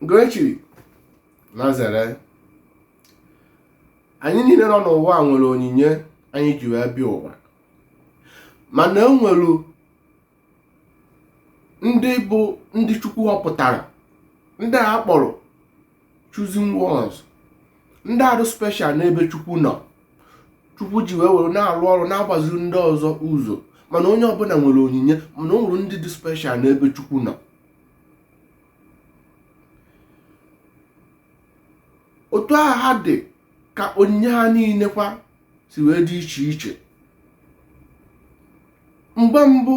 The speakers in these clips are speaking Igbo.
nke e chiri na zere anyị niile nọ n'ụwa nwere onyinye anyị ji wee bịa ụwa mana e nwere ndị bụ ndị chukwu họpụtara ndị a kpọrọ chosen ones ndị a dị special n'ebe chukwu nọ chukwu ji wee were na-arụ ọrụ na-agbaziri ndị ọzọ ụzọ mana onye ọbụla nwere onyinye mana o nwere ndị dị special n'ebe chukwu nọ otu ahụ ha dị ka onyinye ha niile kwa si wee dị iche iche mgbe mbụ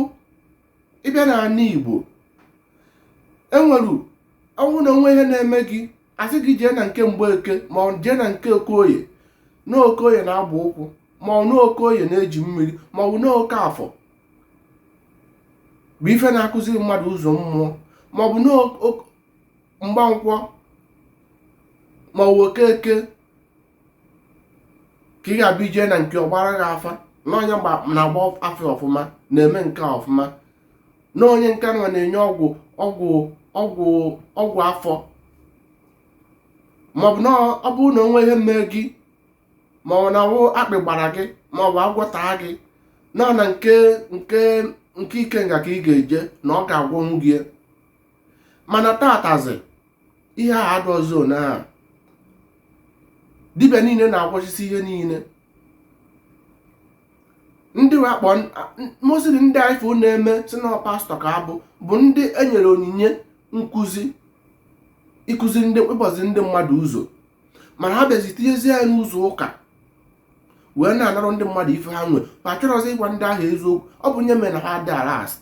ị bịa na ana igbo enwere ọ wụ na o nwee ihe na-eme gị a sị gị jee na nke mgbeke ma ọ jee na nke okoye na okoye na-agba ụkwụ ma ọ na okoye na-eji mmiri ma ọ bụ na okafọ bụ ife na-akụziri mmadụ ụzọ mmụọ ma ọ bụ na mgbankwọ ma ọ bụ okeke ka ị ga-abịa ị jee na nke ọ gbaara gị afa na onye na-agba afa ọfụma na-eme nke ọfụma na onye nke nwa na-enye ọgwụ ọgwụ afọ maọbụ na ọ bụrụ na o nwee ihe mee gị ma ọ na ọ wụ akpị gbara gị ma ọ bụ agwọ taa gị na na nke ikenga ka ị ga-eje na ọ ga-agwọnwu gị mana tatazi ihe a adọzi na dibịa niile na-agwọchasị ihe niile ndị wakpọ mosiri ndị ife na-eme si na pastọ ka ha bụ bụ ndị enyere onyinye nkụzi ịkụzi ndị ịgbazi ndị mmadụ ụzọ mana ha bịazi tinyezie ya n'ụzọ ụka wee na-anarụ ndị mmadụ ife ha nwe ma achọrọzi ịgwa ndị ahụ eziokwu ọ bụ nya mere na ha dị aras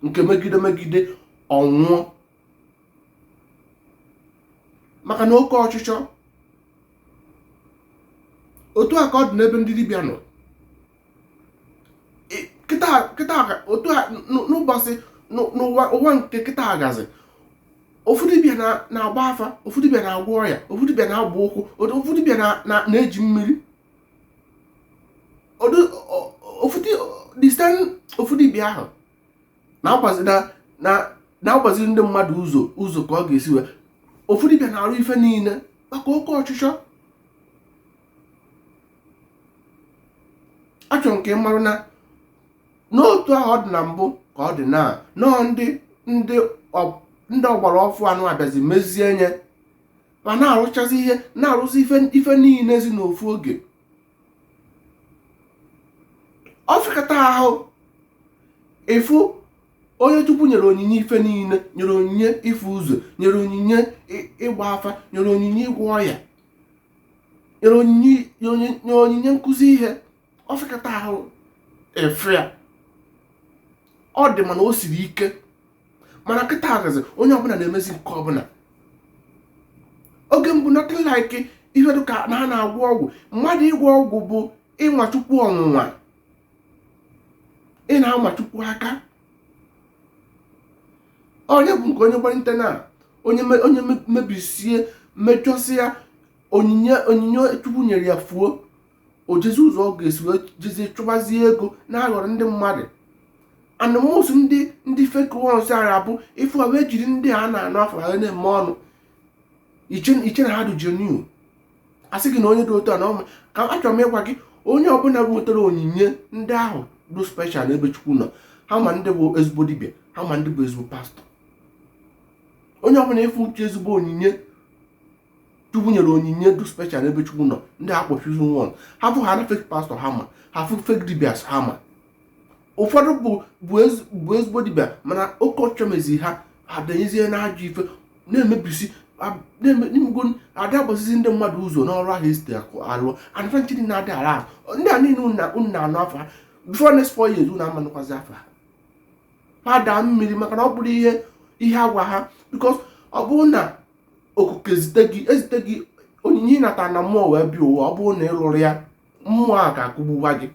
nke megide megide onwe ha maka na oke ọchịchọ otu a ka ọ dị n'ebe ndị dibịa nọ kịta otu a n'ụbọchị n'ụwa ụwa nke kịta agazi ofu dibịa na-agba afa ofu dibịa na-agwọ ọya ofu dibịa na-agba ụkwụ ofu dibịa na-eji mmiri ofu dibịa ahụ na-agbazi ndị mmadụ ụzọ ụzọ ka ọ ga-esi wee ofu dibịa na-arụ ife niile maka oke ọchịchọ achọrọ m ka ị marụ na n'otu ahụ ọ dị na mbụ ka ọ dị na nọọ ndị ndị ọgbara ọfụụ anụ abịazi mezie nya ma na-arụchazi ihe na-arụzi ife niile zi n'ofu oge ọ fịakata ahụ ịfụ onye chukwu nyere onyinye ife niile nyere onyinye ịfụ ụzọ nyere onyinye ịgba afa nyere onyinye ịgwọ ọya nyere onyinye nkụzi ihe ọ fịakata ahụ ịfụ ya ọ dị mana o siri ike mana kịta agazi onye ọbụla na-emezi nke ọbụla oge mbụ nothing like ihe dịka na ha na-agwọ ọgwụ mmadụ ịgwọ ọgwụ bụ ịnwa chukwu ọnwụnwa ị na-ama chukwu aka onye bụ nke onye gbalite na onye mebisie mechọsịa onyinye chukwu nyere ya fuo o jezi ụzọ ọ ga-esi wee jezie chụbazie ego na-aghọrọ ndị mmadụ and most ndị ndị fake ones ara abụ ịfụ ha wee jiri ndị a na-anụ afa ha na-eme ọnụ i chee na ha dị genuine asị gị na onye dị otu a na ọ maka achọrọ m ịgwa gị onye ọbụla nwetara onyinye ndị ahụ dụ special n'ebe chukwu nọ ha ma ndị bụ ezigbo dibịa ha ma ndị bụ ezigbo pastọ onye ọbụla ị fụ uche ezigbo onyinye chukwu nyere onyinye dụ special ebe chukwu nọ ndị a kpọ chosen one ha fụ ha na fake pastọ ha ma ha fụ fake dibias ha ma ụfọdụ bụ bụ ezigbo dibịa mana oke ọchịchọ mezi ha adanyezie na ajọ ife na-emebisi n'ime ego ada agbazizi ndị mmadụ ụzọ n'ọrụ ahụ esite alụ anafa nchiri na-adị ala ndị a niile unu na-anụ afa ha before next four years unu ama anụkwazi afa ha ha daa mmiri maka na ọ bụrọ ihe a gwa ha because ọ bụrụ na okike zite gị ezite gị onyinye ị nata na mmụọ wee bịa ụwa ọ bụrụ na ị lụrọ ya mmụọ a ga-akụgbuwa gị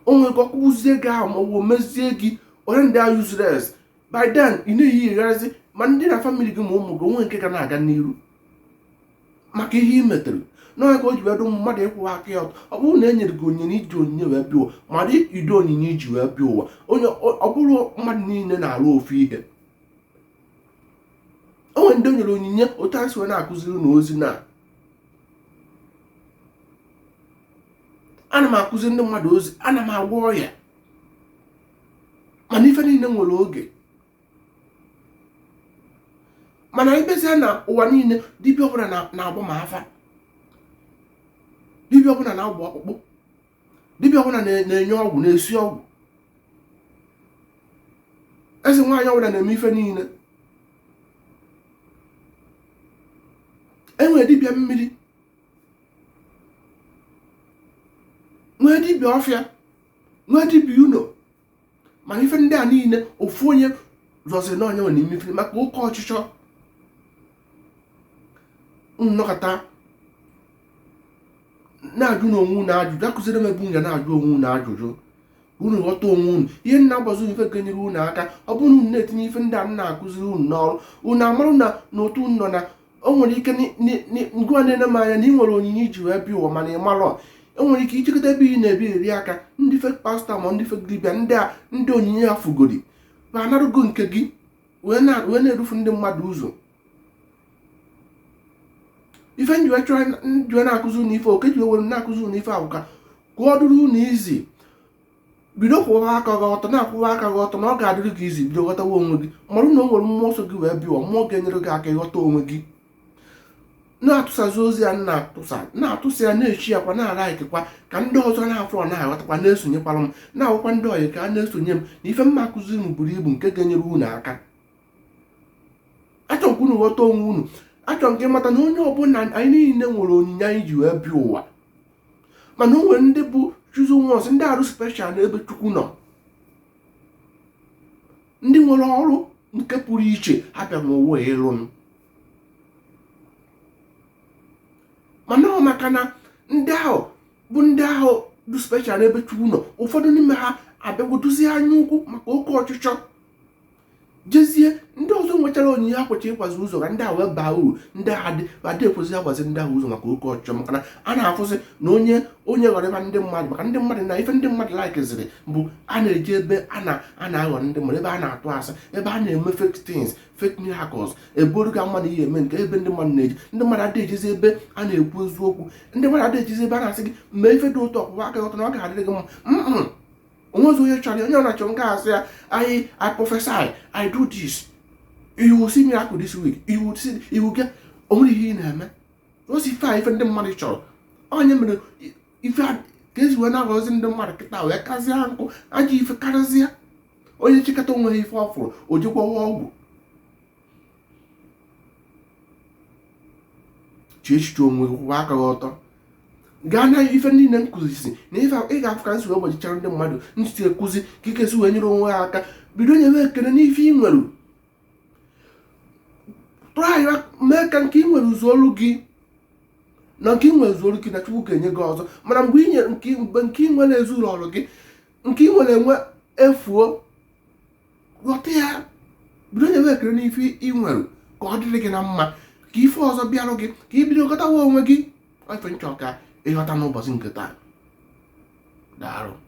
o nwere ike akụgbuzie gị ahụ ma ọ bụ mezie gị onye dị useless by then ị na-eyigharịzi ma ndị na famili gị ma ụmụ gị o nwe nke ga na-aga n'iru maka ihe ị metere na ọ ya ka o ji wee dụ mmadụ ịkwụwa aka ya ọtọ ọ bụrụ na e nyere gị onyinye i ji onyinye wee bịa ụwa mara ụdị onyinye i ji wee bịa ụwa ọ bụrọ mmadụ niile na-arụ ofu ihe o nwe ndị o nyere onyinye otu anyị si wee na-akụziri unu ozi na ana m akụzi ndị mmadụ ozi ana m agwọ ọya mana ife niile nwere oge mana ị bịazie na ụwa niile dibịa ọbụla na-agba ma afa dibịa ọbụla na-agba ọkpụkpụ dibịa ọbụla na-enye ọgwụ na-esi ọgwụ eze nwaanyị ọbụla na-eme ife niile e nwere dibịa mmiri nwee dibịa ọfịa nwee dibịa ụlọ ma ife ndị a niile ofu onye zọziri n'onye nwere ime ife maka oke ọchịchọ unu nọkata na-ajụ na onwe unu ajụjụ akụziri m ebe unu ga na-ajụ onwe unu ajụjụ unu ghọta onwe unu ihe m na-agwazi unu ife ga-enyere unu aka ọ bụrụ na unu na-etinye ife ndị a m na-akụziri unu n'ọrụ unu amarụ na n'otu unu nọ na o nwere ike ngịwa na-ene m anya na ị nwere onyinye i ji wee bịa ụwa mana ị marọ o nwere ike i jekata ebe ị na-ebi eri aka ndị fake pastor ma ndị fake dibịa ndị a ndị onyinye ha fugori ha anarụgo nke gị wee na-edufu ndị mmadụ ụzọ ife m ji wee chọọ m ji wee na-akụzi unu ife ọ ka e ji wee were na-akụzi unu ife a wụ ka ọ dịrị unu easy bido kwụwa aka gị ọtọ na-akwụwa aka gị ọtọ na ọ ga-adịrị gị easy bido ghọtawa onwe gị mara na o nwere mmụọ so gị wee bịa mmụọ ga-enyere gị aka ịghọta onwe gị na-atụsazi ozi a na-atụsa na-atụsa ya na-esharekwa na-alikekwa ka ndị ọzọ na-afụ na-aghọtakwa na-esonyekwara m na-agwakwa ndị ọyị ka ha na-esonye m na ife m ma-akụzi buru ibu nke ga-enyere unu aka achọrọ m ka unu ghọta onwe unu achọrọ m ka ị mata na onye ọbụla anyị niile nwere onyinye anyị ji wee bịa ụwa mana o nwere ndị bụ chosen ones ndị a dị special n'ebe chukwu nọ ndị nwere ọrụ nke pụrụ iche ha bịa n'ụwa ịlụnụ mana ọ maka na ndị ahụ bụ ndị ahụ dị special n'ebe chukwu nọ ụfọdụ n'ime ha abịagwodozie anya ukwu maka oke ọchịchọ jezie ndị ọzọ nwechara onyinye ha kwesịrị ịgwazi ụzọ ka ndị a wee baa uru ndị a adị ekwezi agwazi ndị ahụ ụzọ maka oke ọchịchọ maka na a na-afụzi na onye onye ghọrọ ịba ndị mmadụ maka ndị mmadụ na ife ndị mmadụ likeziri bụ ha na-eje ebe a na-aghọ ndị mmadụ ebe a na-atụ asị ebe a na-eme fake things fake miracles eboru ga mmadụ ihe eme nke ebe ndị mmadụ na-eje ndị mmadụ adịghị ejezi ebe a na-ekwu eziokwu ndị mmadụ adịghị ejezi ebe a na-asị gị mee ife dị otu a kwụwa aka ọtọ na ọ ga-adịrị gị mma o nwezi onye chọrọ onye ọbụna chọrọ nke a sị ya i prophesy i do this you will see miracle this week you will see you will get o nwere ihe ị na-eme o si ife a ife ndị mmadụ chọrọ ọ ya mere ife a ka e si wee na-aghọzi ndị mmadụ kịta wee kazie nkụ ajọ ife karịzie onye chekata o mewe ife ọ fụrụ o jee gwọwa ọgwụ chee echiche onwe kwụwa aka gị ọtọ gaa na ife niile m kụzisi na ife ị ga-afụ ka m si wee gbachichara ndị mmadụ ntị akụzi ka ị ga-esi wee nyere onwe ha aka bido nyewe ekele n'ife ị nwere try mee ka nke ị nwere zuolu gị na nke ị nwere zuolu gị na chukwu ga-enye gị ọzọ mana mgbe ị nyere mgbe nke ị nwere ezulurọ gị nke ị nwere ewee fuo ghọta ya bido nyewe ekele n'ife ị nwere ka ọ dịrị gị na mma ka ife ọzọ bịarụ gị ka ị bido ghọtawa onwe gị ọ ife m chọ ka ị ghọta n'ụbọchị nke taa daarụ